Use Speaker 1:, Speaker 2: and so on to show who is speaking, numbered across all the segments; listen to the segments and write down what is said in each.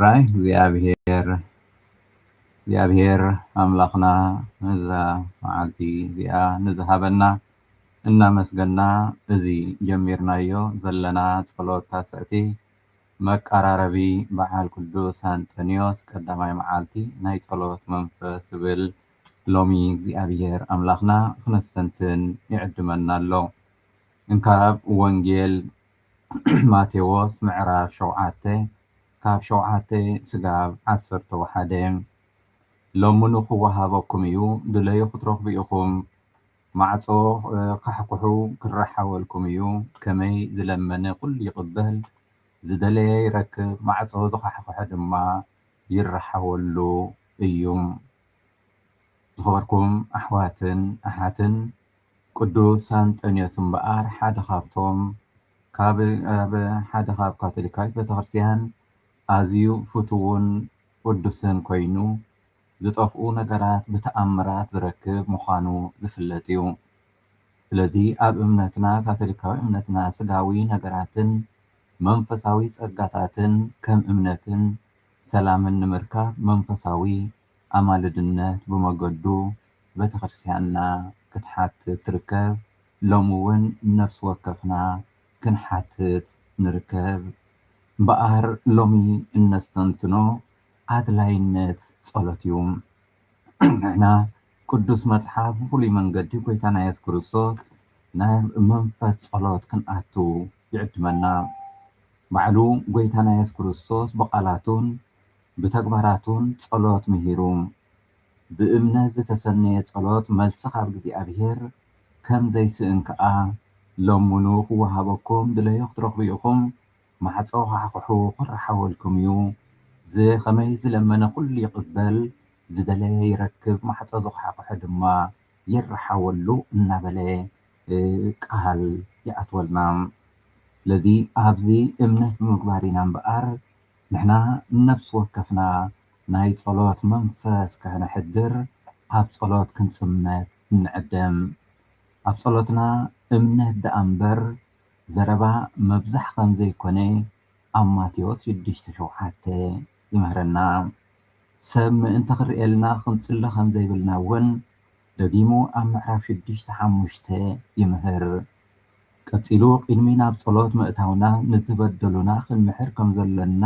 Speaker 1: ራይ እግዚኣብሔር እግዚኣብሔር ኣምላኽና ነዛ መዓልቲ እዚኣ ንዝሃበና እናመስገና እዚ ጀሚርናዮ ዘለና ጸሎት ታስዕቲ መቀራረቢ በዓል ቅዱስ ኣንጠንዮስ ቀዳማይ መዓልቲ ናይ ጸሎት መንፈስ ዝብል ሎሚ እግዚኣብሔር ኣምላኽና ክነስተንትን ይዕድመና ኣሎ እንካብ ወንጌል ማቴዎስ ምዕራፍ ሸውዓተ ካብ ሸውዓተ ስጋብ ዓሰርተ ወሓደ ለምኑ ኽወሃበኩም እዩ፣ ድለዩ ኽትረኽቡ ኢኹም፣ ማዕጾ ኻሕኵሑ ክረሓወልኩም እዩ፣ ከመይ ዝለመነ ዅሉ ይቕበል፣ ዝደለየ ይረክብ፣ ማዕጾ ዝኻሕኵሐ ድማ ይረሓወሉ እዩ። ዝኸበርኩም ኣሕዋትን ኣሓትን፣ ቅዱስ ኣንጠንዮስ እምበኣር ሓደ ካብቶም ካብ ኣብ ሓደ ካብ ካቶሊካዊት ቤተክርስቲያን ኣዝዩ ፍቱውን ቅዱስን ኮይኑ ዝጠፍኡ ነገራት ብተኣምራት ዝረክብ ምዃኑ ዝፍለጥ እዩ። ስለዚ ኣብ እምነትና ካቶሊካዊ እምነትና ስጋዊ ነገራትን መንፈሳዊ ጸጋታትን ከም እምነትን ሰላምን ንምርካብ መንፈሳዊ ኣማልድነት ብመገዱ ቤተክርስቲያንና ክትሓትት ትርከብ ሎሚ ውን ነፍሲ ወከፍና ክንሓትት ንርከብ እምበኣር ሎሚ እነስተንትኖ ኣድላይነት ጸሎት እዩ ንሕና ቅዱስ መጽሓፍ ብፍሉይ መንገዲ ጎይታና የሱስ ክርስቶስ ናብ መንፈስ ጸሎት ክንኣቱ ይዕድመና ባዕሉ ጎይታና የሱስ ክርስቶስ ብቓላቱን ብተግባራቱን ጸሎት ምሂሩ። ብእምነት ዝተሰነየ ጸሎት መልሲ ካብ እግዚኣብሔር ከም ዘይስእን ከኣ ለምኑ ክወሃበኩም ድለዩ ክትረኽቡ ኢኹም ማዕጾ ዃሕዂሑ ክረሓወልኩም እዩ ዝኸመይ ዝለመነ ኩሉ ይቕበል ዝደለየ ይረክብ ማዕጾ ዝዃሕዂሐ ድማ ይረሓወሉ እናበለ ቃል ይኣትወልና ስለዚ ኣብዚ እምነት ብምግባር ኢና እምበኣር ንሕና ንነፍሲ ወከፍና ናይ ጸሎት መንፈስ ከሕነሕድር ኣብ ጸሎት ክንጽመድ እንዕድም። ኣብ ጸሎትና እምነት ደኣ እምበር ዘረባ መብዛሕ ከም ዘይኮነ ኣብ ማቴዎስ ሽዱሽተ ሸውዓተ ይምህረና። ሰብ ምእንቲ ክርእየልና ክንጽሊ ከም ዘይብልና እውን ደጊሙ ኣብ ምዕራፍ ሽዱሽተ ሓሙሽተ ይምህር። ቀጺሉ ቕድሚ ናብ ጸሎት ምእታውና ንዝበደሉና ክንምሕር ከም ዘሎና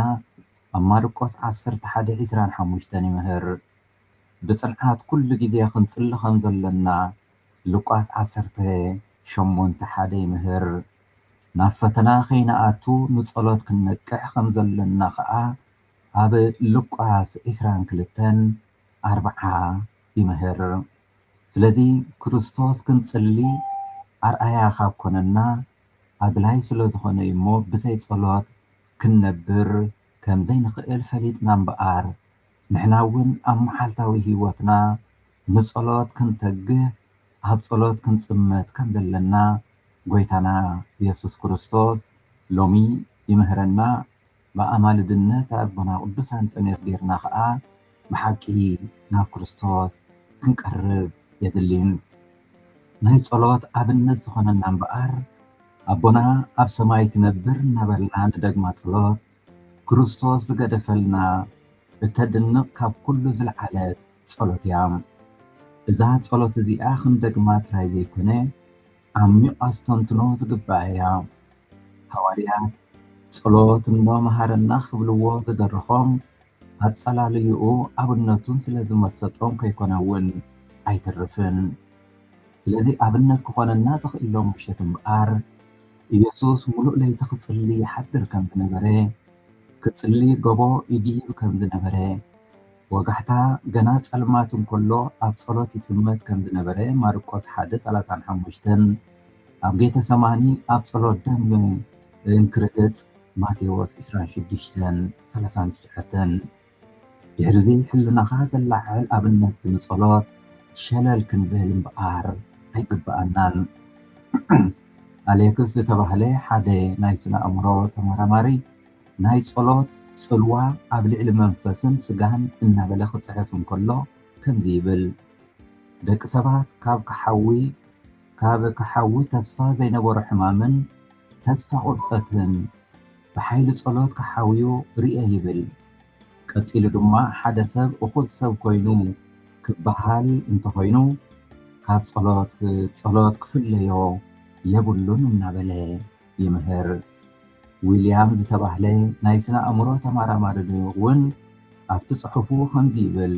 Speaker 1: ኣብ ማርቆስ ዓሰርተ ሓደ ዕስራን ሓሙሽተን ይምህር። ብጽንዓት ኩሉ ግዜ ክንጽሊ ከም ዘሎና ሉቃስ ዓሰርተ ሸሞንተ ሓደ ይምህር። ናብ ፈተና ከይንኣቱ ንጸሎት ክንነቅሕ ከም ዘሎና ኸኣ ኣብ ሉቃስ ዕስራን ክልተን ኣርብዓ ይምህር። ስለዚ ክርስቶስ ክንጽሊ ኣርኣያ ካብ ኮነና ኣድላዪ ስለ ዝኾነ እዩ እሞ ብዘይ ጸሎት ክንነብር ከም ዘይንኽእል ፈሊጥና እምበኣር ንሕና እውን ኣብ መዓልታዊ ህይወትና ንጸሎት ክንተግህ ኣብ ጸሎት ክንጽመድ ከም ዘለና ጎይታና የሱስ ክርስቶስ ሎሚ ይምህረና ብኣማልድነት ኣቦና ቅዱስ ኣንጦንዮስ ጌርና ከኣ ብሓቂ ናብ ክርስቶስ ክንቀርብ የድሊ። ናይ ጸሎት ኣብነት ዝኾነና እምበኣር ኣቦና ኣብ ሰማይ ትነብር እናበልና ንደግማ ጸሎት ክርስቶስ ዝገደፈልና እተድንቕ ካብ ኩሉ ዝልዓለት ጸሎት እያ። እዛ ጸሎት እዚኣ ክንደግማ ጥራይ ዘይኮነ ዓሚቕ ኣስተንትኖ ዝግብኣ እያ። ሃዋርያት ጸሎት እንዶ መሃረና ክብልዎ ዝደረኾም ኣጸላልይኡ ኣብነቱን ስለ ዝመሰጦም ከይኮነ ውን ኣይተርፍን። ስለዚ ኣብነት ክኾነና ዝኽእሎ ምሸት እምበኣር ኢየሱስ ምሉእ ለይቲ ክጽሊ ይሓድር ከም ዝነበረ፣ ክጽሊ ገቦ ይድይብ ከም ዝነበረ፣ ወጋሕታ፣ ገና ጸልማት እንከሎ ኣብ ጸሎት ይጽመድ ከም ዝነበረ፣ ማርቆስ ሓደ ሰላሳን ሓሙሽተን፣ ኣብ ጌተሰማኒ ኣብ ጸሎት ደም እንክርህጽ፣ ማቴዎስ ዕስራን ሽዱሽተን ሰላሳን ትሽዓተን። ድሕርዚ ሕልናኻ ዘላዓዕል ኣብነት ንጸሎት ሸለል ክንብል እምበኣር ኣይግብኣናን። ኣሌክስ ዝተባህለ ሓደ ናይ ስነ-ኣእምሮ ተመራማሪ፣ ናይ ጸሎት ጽልዋ ኣብ ልዕሊ መንፈስን ስጋን እናበለ ክጽሕፍ እንከሎ ከምዚ ይብል፣ ደቂ ሰባት ካብ ክሓዊ ካብ ክሓዊ ተስፋ ዘይነበሮ ሕማምን ተስፋ ቁርጸትን ብሓይሊ ጸሎት ክሓውዩ ርእየ ይብል። ቀጺሉ ድማ ሓደ ሰብ እኹል ሰብ ኮይኑ ክበሃል እንተኾይኑ ካብ ጸሎት ጸሎት ክፍለዮ የብሉን እናበለ፣ ይምህር። ዊልያም ዝተባህለ ናይ ስነ ኣእምሮ ተመራማሪ እውን ኣብቲ ጽሑፉ ከምዚ ይብል፣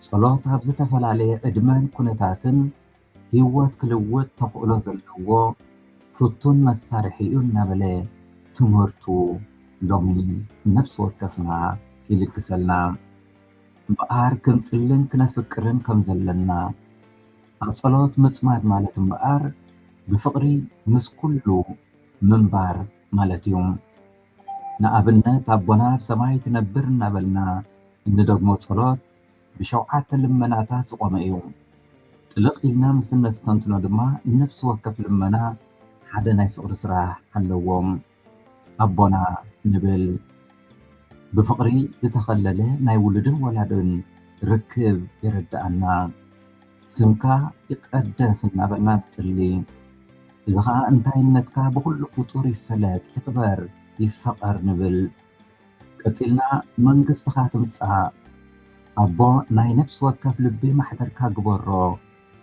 Speaker 1: ጸሎት ኣብ ዝተፈላለየ ዕድመን ኩነታትን ህይወት ክልውጥ ተኽእሎ ዘለዎ ፍቱን መሳርሒ እዩ እናበለ ትምህርቱ ሎሚ ንነፍሲ ወከፍና ይልግሰልና። እምበኣር ክንጽልን ክነፍቅርን ከም ዘለና ኣብ ጸሎት ምጽማድ ማለት እምበኣር ብፍቕሪ ምስ ኩሉ ምንባር ማለት እዩ። ንኣብነት ኣቦና ኣብ ሰማይ ትነብር እናበልና እንደግሞ ጸሎት ብሸውዓተ ልመናታት ዝቖመ እዩ። ጥልቕ ኢልና ምስ እነስተንትኖ ድማ ነፍሲ ወከፍ ልመና ሓደ ናይ ፍቕሪ ስራሕ ኣለዎ። ኣቦና ንብል ብፍቅሪ ዝተከለለ ናይ ውሉድን ወላድን ርክብ የረደኣና ስምካ ይቀደስ እናበልና ንፅሊ እዚ ከዓ እንታይነትካ ብኩሉ ፍጡር ይፈለጥ ይክበር ይፈቀር ንብል ቀፂልና መንግስትካ ትምፃእ ኣቦ ናይ ነፍሲ ወከፍ ልቢ ማሕደርካ ግበሮ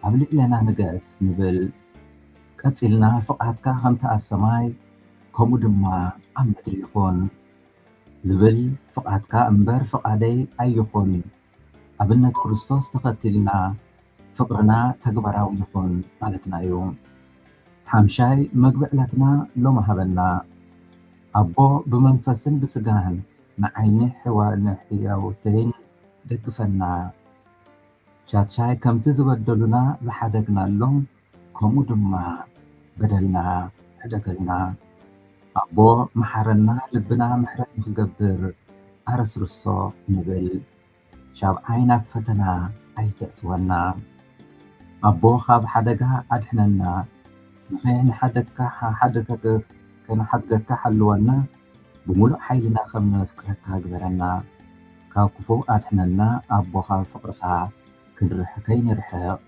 Speaker 1: ኣብ ልዕሌና ንገስ ንብል ቀጺልና ፍቃድካ ከምቲ ኣብ ሰማይ ከምኡ ድማ ኣብ ምድሪ ይኹን ዝብል ፍቃድካ እምበር ፍቃደይ ኣይኹን ኣብነት ክርስቶስ ተኸቲልና ፍቅርና ተግባራዊ ይኹን ማለትና እዩ ሓምሻይ መግቢ ዕለትና ሎሚ ሃበና ኣቦ ብመንፈስን ብስጋን ንዓይኒ ሕያውተይን ደግፈና። ሻድሻይ ከምቲ ዝበደሉና ዝሓደግናሎም ከምኡ ድማ በደልና ሕደገልና ኣቦ መሓረና ልብና ምሕረት ንክገብር ኣረስርሶ ንብል ሻብዓይ ናብ ፈተና ኣይተእትወና ኣቦ ካብ ሓደጋ ኣድሕነና ንከይንሓደግካ ሓሓደገ ከይንሓድገካ ሓልወና ብምሉእ ሓይልና ከም ነፍቅረካ ግበረና ካብ ክፉእ ኣድሕነና ኣቦ ካብ ፍቅርካ ክንርሕ ከይንርሕቅ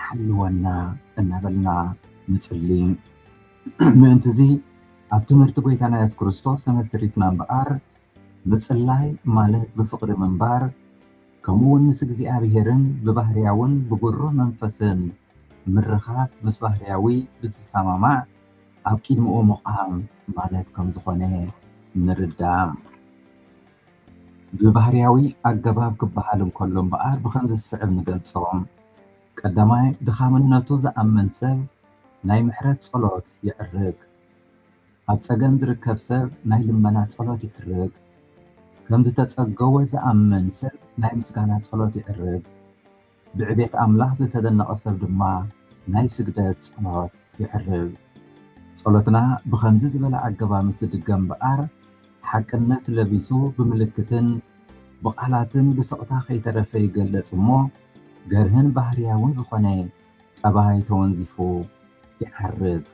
Speaker 1: ሓልወና እናበልና ንጽሊ ምእንትዚ ኣብ ትምህርቲ ጎይታና የሱስ ክርስቶስ ተመስሪትና እምበኣር ምጽላይ ማለት ብፍቅሪ ምንባር ከምኡ እውን ምስ እግዚኣብሔርን ብባህርያውን ብግሩህ መንፈስን ምርኻብ ምስ ባህርያዊ ብዝሰማማዕ ኣብ ቂድምኡ ምቛም ማለት ከም ዝኾነ ንርዳእ። ብባህርያዊ ኣገባብ ክበሃል እንከሎ እምበኣር ብኸምዚ ዝስዕብ ንገልጾ። ቀዳማይ፣ ድኻምነቱ ዝኣምን ሰብ ናይ ምሕረት ጸሎት ይዕርግ። ኣብ ጸገም ዝርከብ ሰብ ናይ ልመና ጸሎት ይዕርግ። ከም ዝተጸገወ ዝኣምን ሰብ ናይ ምስጋና ጸሎት ይዕርግ። ብዕቤት ኣምላኽ ዝተደነቐ ሰብ ድማ ናይ ስግደት ጸሎት ይዕርብ። ጸሎትና ብኸምዚ ዝበለ ኣገባብ ምስ ዝድገም እምበኣር፣ ሓቅነት ለቢሱ ብምልክትን ብቓላትን ብስቕታ ከይተረፈ ይገለጽ እሞ፣ ገርህን ባህርያውን ዝኾነ ጠባይ ተወንዚፉ ይዓርግ።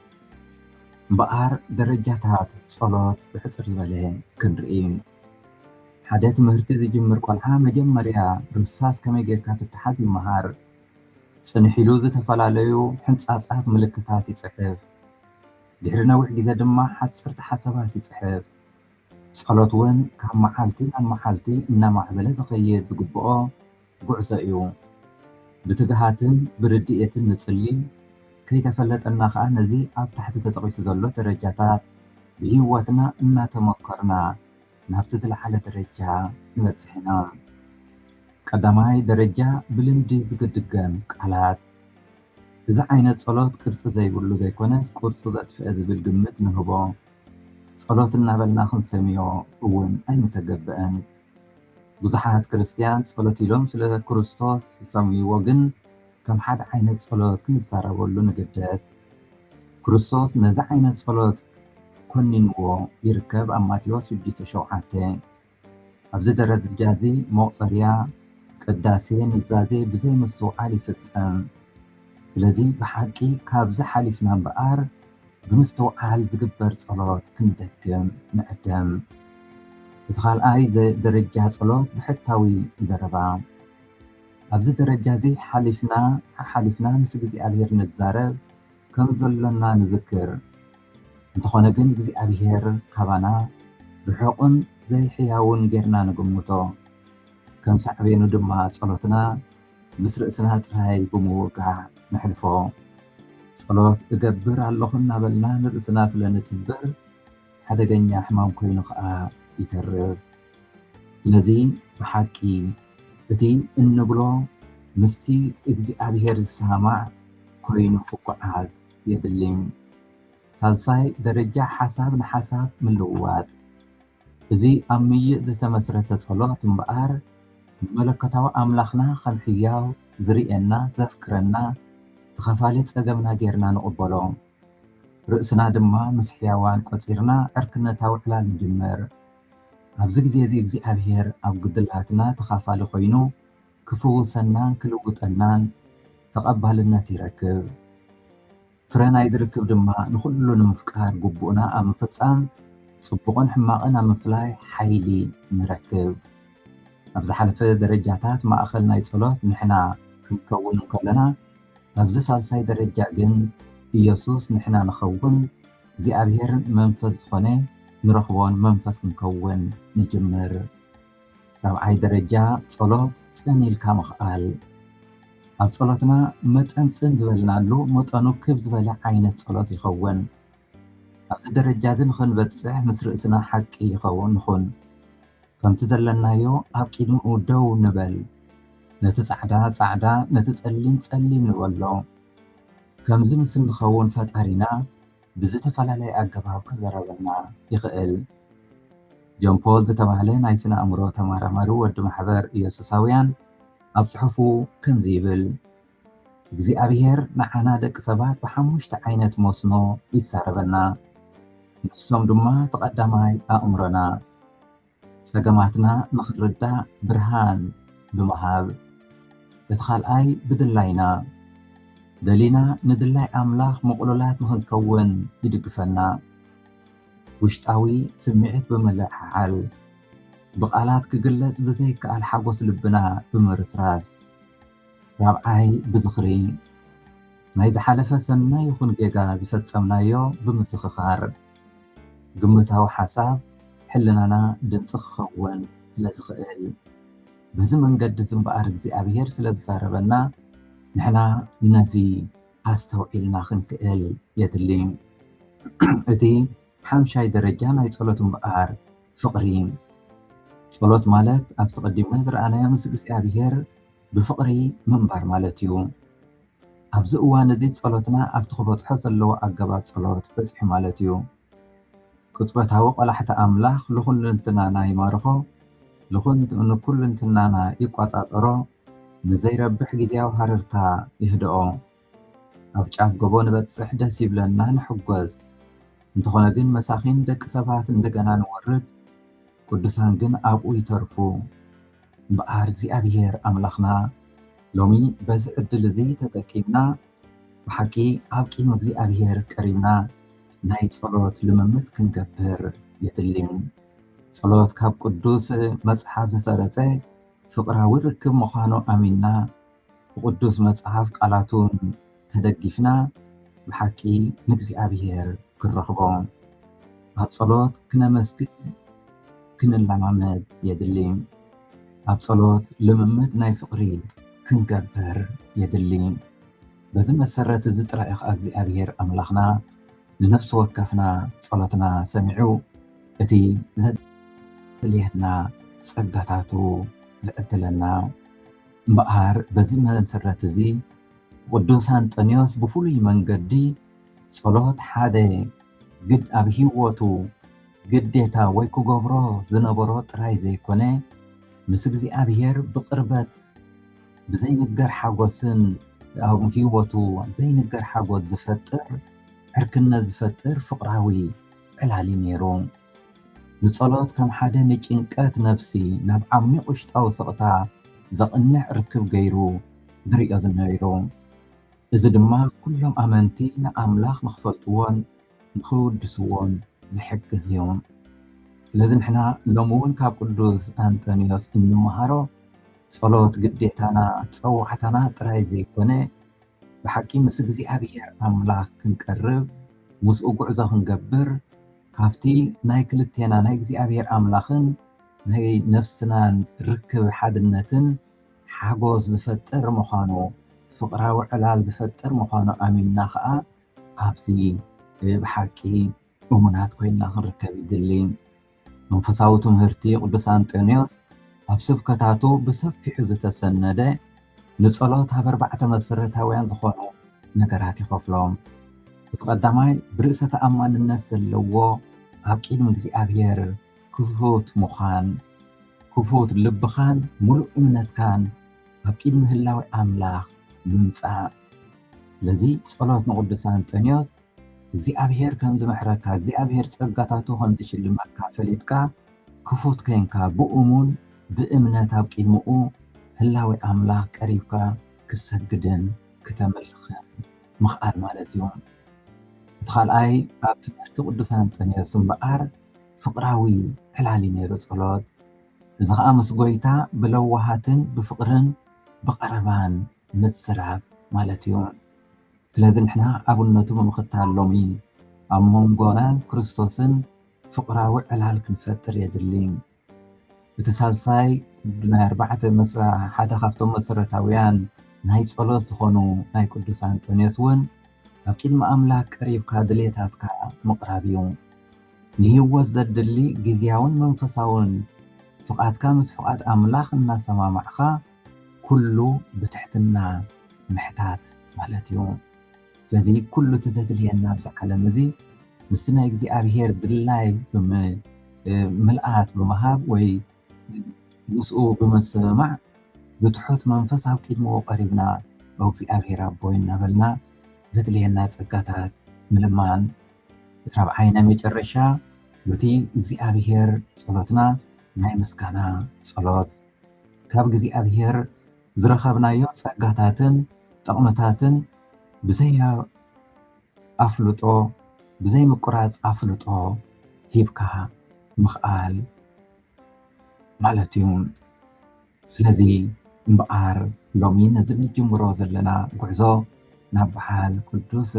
Speaker 1: እምበኣር ደረጃታት ጸሎት ብሕጽር ዝበለ ክንርኢ። ሓደ ትምህርቲ ዝጅምር ቆልዓ መጀመርያ ርሳስ ከመይ ጌርካ ትተሓዝ ይመሃር። ጽንሕ ኢሉ ዝተፈላለዩ ሕንጻጻት ምልክታት ይጽሕፍ። ድሕሪ ነዊሕ ግዜ ድማ ሓጸርቲ ሓሳባት ይጽሕፍ። ጸሎት ውን ካብ መዓልቲ ናብ መዓልቲ እናማዕበለ ዝኸይድ ዝግብኦ ጉዕዞ እዩ። ብትግሃትን ብርድኢትን ንጽሊ፣ ከይተፈለጠና ከኣ ነዚ ኣብ ታሕቲ ተጠቒሱ ዘሎ ደረጃታት ብህይወትና እናተመኮርና ናብቲ ዝለዓለ ደረጃ ንበጽሕ ኢና። ቀዳማይ ደረጃ ብልምዲ ዝድገም ቃላት። እዚ ዓይነት ጸሎት ቅርጺ ዘይብሉ ዘይኮነስ ቅርጹ ዘጥፍኤ ዝብል ግምት ንህቦ። ጸሎት እናበልና ክንሰምዮ እውን ኣይምተገብእን። ብዙሓት ክርስትያን ጸሎት ኢሎም ስለ ክርስቶስ ዝሰምይዎ ግን ከም ሓደ ዓይነት ጸሎት ክንዛረበሉ ንግደድ። ክርስቶስ ነዚ ዓይነት ጸሎት ኮኒንዎ ይርከብ ኣብ ማቴዎስ ሽዱሽተ ሸውዓተ። ኣብዚ ደረጃ እዚ መቑጸርያ ቅዳሴ ኑዛዜ ብዘይ ምስትውዓል ይፍጸም። ስለዚ ብሓቂ ካብዚ ሓሊፍና እምበኣር፣ ብምስትውዓል ዝግበር ጸሎት ክንደግም ንዕደም። እቲ ካልኣይ ደረጃ ጸሎት ብሕታዊ ዘረባ። ኣብዚ ደረጃ እዚ ሓሊፍና ሓሓሊፍና ምስ እግዚኣብሔር ንዛረብ ከም ዘሎና ንዝክር። እንተኾነ ግን እግዚኣብሔር ካባና ርሑቕን ዘይሕያውን ጌርና ንግምቶ። ከም ሳዕቤኑ ድማ ጸሎትና ምስ ርእስና ጥራይ ብምውጋዕ ነሕልፎ። ጸሎት እገብር ኣለኹ እናበልና ንርእስና ስለ ንትብር ሓደገኛ ሕማም ኮይኑ ከኣ ይተርፍ። ስለዚ ብሓቂ እቲ እንብሎ ምስቲ እግዚኣብሔር ዝሰማማዕ ኮይኑ ክጎዓዝ የድሊ። ሳልሳይ ደረጃ ሓሳብ ንሓሳብ ምልውዋጥ። እዚ ኣብ ምይይጥ ዝተመስረተ ጸሎት እምበኣር፣ ንመለኮታዊ ኣምላኽና ኸም ሕያው፣ ዚርእየና፣ ዘፍቅረና፣ ተኻፋሊ ጸገምና ጌርና ንቕበሎ። ርእስና ድማ ምስ ሕያዋን ቈጺርና ዕርክነታዊ ዕላል ንጅምር። ኣብዚ ግዜ እዚ እግዚኣብሄር ኣብ ጕድላትና ተኻፋሊ ዀይኑ ኺፍውሰናን ኪልውጠናን ተቐባልነት ይረክብ። ፍረ ናይዚ ርክብ ድማ ንኹሉ ንምፍቃር ግቡእና ኣብ ምፍጻም፣ ጽቡቕን ሕማቕን ኣብ ምፍላይ ሓይሊ ንረክብ። ኣብ ዝሓለፈ ደረጃታት ማእከል ናይ ጸሎት ንሕና ክንከውን እንከሎና፣ ኣብዚ ሳልሳይ ደረጃ ግን ኢየሱስ ንሕና ንኸውን፣ እግዚኣብሔር መንፈስ ዝኾነ ንረኽቦን መንፈስ ክንከውን ንጅምር። ራብዓይ ደረጃ ጸሎት ጽን ኢልካ ምኽኣል ኣብ ጸሎትና መጠን ጽን ዝበልናሉ መጠኑ ክብ ዝበለ ዓይነት ጸሎት ይኸውን። ኣብዚ ደረጃ እዚ ንኸንበጽሕ ምስ ርእስና ሓቂ ይኸውን ንኹን። ከምቲ ዘለናዮ ኣብ ቂድምኡ ደው ንበል። ነቲ ጻዕዳ ጻዕዳ ነቲ ጸሊም ጸሊም ንበሎ። ከምዚ ምስ እንኸውን ፈጣሪና ብዝተፈላለየ ኣገባብ ክዘረበልና ይኽእል። ጆን ፖል ዝተባህለ ናይ ስነ ኣእምሮ ተመራማሪ ወዲ ማሕበር ኢየሱሳውያን ኣብ ጽሑፉ ከምዚ ይብል፣ እግዚኣብሄር ንዓና ደቂ ሰባት ብሓሙሽተ ዓይነት መስኖ ይዛረበና። ንሶም ድማ እቲ ቀዳማይ ኣእምሮና፣ ጸገማትና ንኽንርዳእ ብርሃን ብምሃብ፣ እቲ ኻልኣይ ብድላይና ደሊና ንድላይ ኣምላኽ ምቕሉላት ንኽንከውን ይድግፈና። ውሽጣዊ ስምዒት ብምልዕዓል፣ ብቓላት ክግለጽ ብዘይከኣል ሓጐስ ልብና ብምርስራስ፣ ራብዓይ ብዝኽሪ ናይ ዝሓለፈ ሰናይ ይኹን ጌጋ ዝፈጸምናዮ ብምዝኽኻር፣ ግምታዊ ሓሳብ ሕልናና ድምፂ ክኸውን ስለዝኽእል። በዚ መንገዲ እዚ እምበኣር እግዚኣብሄር ስለዝዛረበና ንሕና ነዚ ኣስተውዒልና ክንክእል የድሊ። እቲ ሓምሻይ ደረጃ ናይ ጸሎት እምበኣር ፍቕሪ ጸሎት ማለት ኣብቲ ቀዲምና ዝረኣናዮ ምስ እግዚኣብሄር ብፍቕሪ ምንባር ማለት እዩ። ኣብዚ እዋን እዚ ጸሎትና ኣብቲ ክበጽሖ ዘለዎ ኣገባብ ጸሎት በጺሑ ማለት እዩ። ቅጽበታዊ ቆላሕታ ኣምላኽ ልኹልንትናና ይማርኾ፣ ንኩልንትናና ይቆጻጸሮ፣ ንዘይረብሕ ግዝያዊ ሃረርታ የህድኦ። ኣብ ጫፍ ጎቦ ንበጽሕ ደስ ይብለና ንሕጎስ። እንተኾነ ግን መሳኺን ደቂ ሰባት እንደገና ንወርድ፣ ቅዱሳን ግን ኣብኡ ይተርፉ። እምበኣር እግዚኣብሔር ኣምላኽና ሎሚ በዚ ዕድል እዚ ተጠቂምና ብሓቂ ኣብ ቂም እግዚኣብሔር ቀሪብና ናይ ጸሎት ልምምት ክንገብር የድሊ። ጸሎት ካብ ቅዱስ መጽሓፍ ዝሰረጸ ፍቕራዊ ርክብ ምዃኑ ኣሚንና ብቅዱስ መጽሓፍ ቃላቱን ተደጊፍና ብሓቂ ንእግዚኣብሔር ክንረኽቦ ኣብ ጸሎት ክነመስግን ክንለማመድ የድሊ። ኣብ ጸሎት ልምምድ ናይ ፍቕሪ ክንገብር የድሊ። በዚ መሰረት እዚ ጥራይ ኸዓ እግዚኣብሔር ኣምላኽና ንነፍሲ ወከፍና ጸሎትና ሰሚዑ እቲ ዘድልየና ጸጋታቱ ዝዕድለና እምበኣር በዚ መሰረት እዚ ቅዱስ ኣንጠንዮስ ብፍሉይ መንገዲ ጸሎት ሓደ ግድ ኣብ ህይወቱ ግዴታ ወይ ክገብሮ ዝነበሮ ጥራይ ዘይኮነ ምስ እግዚኣብሔር ብቅርበት ብዘይንገር ሓጎስን ኣብ ህይወቱ ዘይንገር ሓጎስ ዝፈጥር ዕርክነት ዝፈጥር ፍቅራዊ ዕላሊ ነይሩ። ንጸሎት ከም ሓደ ንጭንቀት ነፍሲ ናብ ዓሚቕ ውሽጣዊ ስቕታ ዘቕንዕ ርክብ ገይሩ ዝርእዮ ዝነይሩ። እዚ ድማ ኩሎም ኣመንቲ ንኣምላኽ ንኽፈልጥዎን ንኽውድስዎን ዝሕግዝ እዩ። ስለዚ ንሕና ሎሚ እውን ካብ ቅዱስ ኣንጠንዮስ እንመሃሮ ጸሎት ግዴታና ጸዋዕታና ጥራይ ዘይኮነ ብሓቂ ምስ እግዚኣብሔር ኣምላኽ ክንቀርብ ምስኡ ጉዕዞ ክንገብር ካብቲ ናይ ክልቴና ናይ እግዚኣብሔር ኣምላኽን ናይ ነፍስናን ርክብ ሓድነትን ሓጎስ ዝፈጥር ምዃኑ ፍቕራዊ ዕላል ዝፈጥር ምዃኑ ኣሚንና ከኣ ኣብዚ ብሓቂ እሙናት ኮይንና ክንርከብ ይድሊ። መንፈሳዊ ትምህርቲ ቅዱስ ኣንጦንዮስ ኣብ ስብከታቱ ብሰፊሑ ዝተሰነደ ንጸሎት ኣብ ኣርባዕተ መሰረታውያን ዝኾኑ ነገራት ይኸፍሎም። እቲ ቀዳማይ ብርእሰ ተኣማንነት ዘለዎ ኣብ ቅድሚ እግዚኣብሔር ክፉት ምዃን፣ ክፉት ልብኻን ምሉእ እምነትካን ኣብ ቅድሚ ህላዌ ኣምላኽ ምምጻእ። ስለዚ ጸሎት ንቅዱስ ኣንጠንዮስ እግዚኣብሔር ከም ዝምሕረካ እግዚኣብሔር ጸጋታቱ ከም ዝሽልመካ ፈሊጥካ ክፉት ኴንካ ብእሙን ብእምነት ኣብ ቂድምኡ ህላዌ ኣምላኽ ቀሪብካ ክትሰግድን ክተምልኽን ምኽኣል ማለት እዩ። እቲ ካልኣይ ኣብ ትምህርቲ ቅዱስ ኣንጠንዮስ እምበኣር ፍቅራዊ ዕላል እዩ ነይሩ ጸሎት እዚ ኸኣ ምስ ጎይታ ብለዋሃትን ብፍቅርን ብቀረባን ምዝራብ ማለት እዩ። ስለዚ ንሕና ኣብነቱ ብምኽታል ሎሚ ኣብ ሞንጎናን ክርስቶስን ፍቕራዊ ዕላል ክንፈጥር የድሊ። እቲ ሳልሳይ ናይ ኣርባዕተ ሓደ ካብቶም መሰረታውያን ናይ ጸሎት ዝኾኑ ናይ ቅዱስ ኣንጦንዮስ እውን ኣብ ቅድሚ ኣምላክ ቀሪብካ ድሌታትካ ምቕራብ እዩ። ንህይወት ዘድሊ ግዝያውን መንፈሳውን ፍቓድካ ምስ ፍቓድ ኣምላኽ እናሰማማዕኻ ኩሉ ብትሕትና ምሕታት ማለት እዩ። ስለዚ ኩሉ እቲ ዘድልየና ኣብዚ ዓለም እዚ ምስቲ ናይ እግዚኣብሄር ድላይ ብምልኣት ብምሃብ ወይ ምስኡ ብምስምማዕ ብትሑት መንፈስ ኣብ ቅድሚኡ ቀሪብና ኦ እግዚኣብሄር ኣቦይ እናበልና ዘድልየና ጸጋታት ምልማን እቲ ራብዓይ ናይ መጨረሻ በቲ እግዚኣብሄር ጸሎትና ናይ ምስጋና ጸሎት ካብ እግዚኣብሔር ዝረኸብናዮ ጸጋታትን ጥቕምታትን ብዘይ ኣፍልጦ ብዘይ ምቁራጽ ኣፍልጦ ሂብካ ምኽኣል ማለት እዩ። ስለዚ እምበኣር ሎሚ ነዚ ንጅምሮ ዘለና ጉዕዞ ናብ በዓል ቅዱስ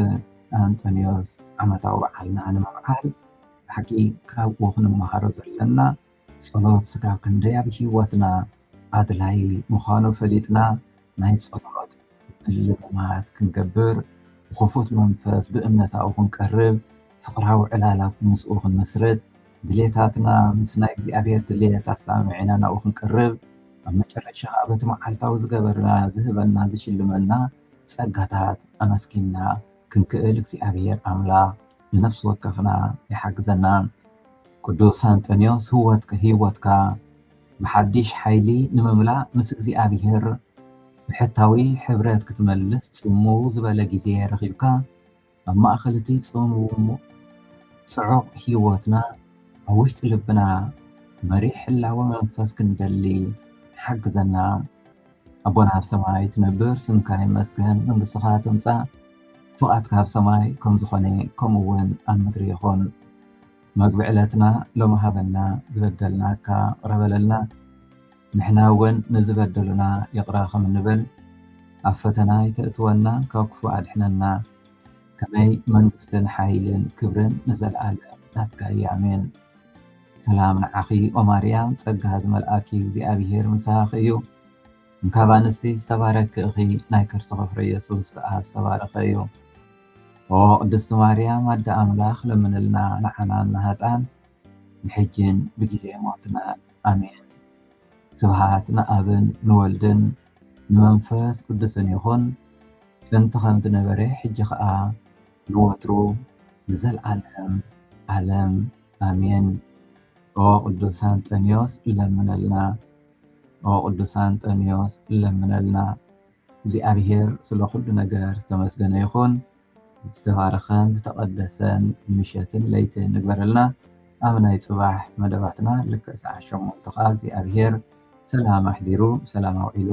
Speaker 1: ኣንጠንዮስ ዓመታዊ በዓልና ንምብዓል ብሓቂ ካብኡ ክንመሃሮ ዘለና ጸሎት ስጋብ ክንደይ ኣብ ህይወትና ኣድላዪ ምዃኑ ፈሊጥና ናይ ጸሎት ምልምማድ ክንገብር፣ ብኽፉት መንፈስ ብእምነት ኣብኡ ክንቀርብ፣ ፍቕራዊ ዕላላ ምስኡ ክንምስርት፣ ድሌታትና ምስ ናይ እግዚኣብሔር ድሌት ኣሰማሚዕና ናብኡ ክንቀርብ፣ ኣብ መጨረሻ ከኣ በቲ መዓልታዊ ዝገበርና ዝህበና ዝሽልመና ጸጋታት ኣመስጊንና ክንክእል እግዚኣብሔር ኣምላኽ ንነፍሲ ወከፍና ይሓግዘና። ቅዱስ ኣንጠንዮስ ህይወትካ ብሓዲሽ ሓይሊ ንምምላእ ምስ እግዚኣብሔር ብሕታዊ ሕብረት ክትመልስ ጽምው ዝበለ ግዜ ረኺብካ ኣብ ማእከል እቲ ጽምው ጽዑቕ ህይወትና ኣብ ውሽጢ ልብና መሪሕ ህላወ መንፈስ ክንደሊ ሓግዘና። ኣቦና ኣብ ሰማይ ትነብር ስምካ ይመስገን መንግስትኻ ትምጻእ ፍቓድካ ኣብ ሰማይ ከም ዝኾነ ከምኡ እውን ኣብ ምድሪ ይኹን መግቢ ዕለትና ሎሚ ሃበና ዝበደልናካ ቅረበለልና ንሕና እውን ንዝበደሉና ይቕረ ከም እንብል ኣብ ፈተና ይተእትወና ካብ ክፉእ ኣድሕነና ከመይ መንግስትን ሓይልን ክብርን ንዘለኣለም ናትካ እዩ ኣሜን ሰላም ንዓኺ ኦማርያም ጸጋ ዝመልኣኪ እግዚኣብሄር ምሳኺ እዩ እንካብ ኣንስቲ ዝተባረኪ እኺ ናይ ከርስኺ ፍረ የሱስ ከኣ ዝተባረኸ እዩ ኦ ቅድስቲ ማርያም ኣደ ኣምላኽ ለምንልና ንዓናን ንሃጣን ንሕጅን ብግዜ ሞትና ኣሜን ስብሃት ንኣብን ንወልድን ንመንፈስ ቅዱስን ይኹን ጥንቲ ከም ዝነበረ ሕጂ ኸኣ ንወትሩ ንዘለኣለም ዓለም ኣሜን ኦ ቅዱስ ኣንጠንዮስ ለምነልና ኦ ቅዱስ ኣንጠንዮስ ለምነልና እግዚኣብሔር ስለ ኩሉ ነገር ዝተመስገነ ይኹን ዝተባረኸን ዝተቐደሰን ምሸትን ለይቲ ንግበረልና ኣብ ናይ ፅባሕ መደባትና ልክዕ ሰዓት ሸሞንተ ከዓ እግዚኣብሔር ሰላም ኣሕዲሩ ሰላም ኣውዒሉ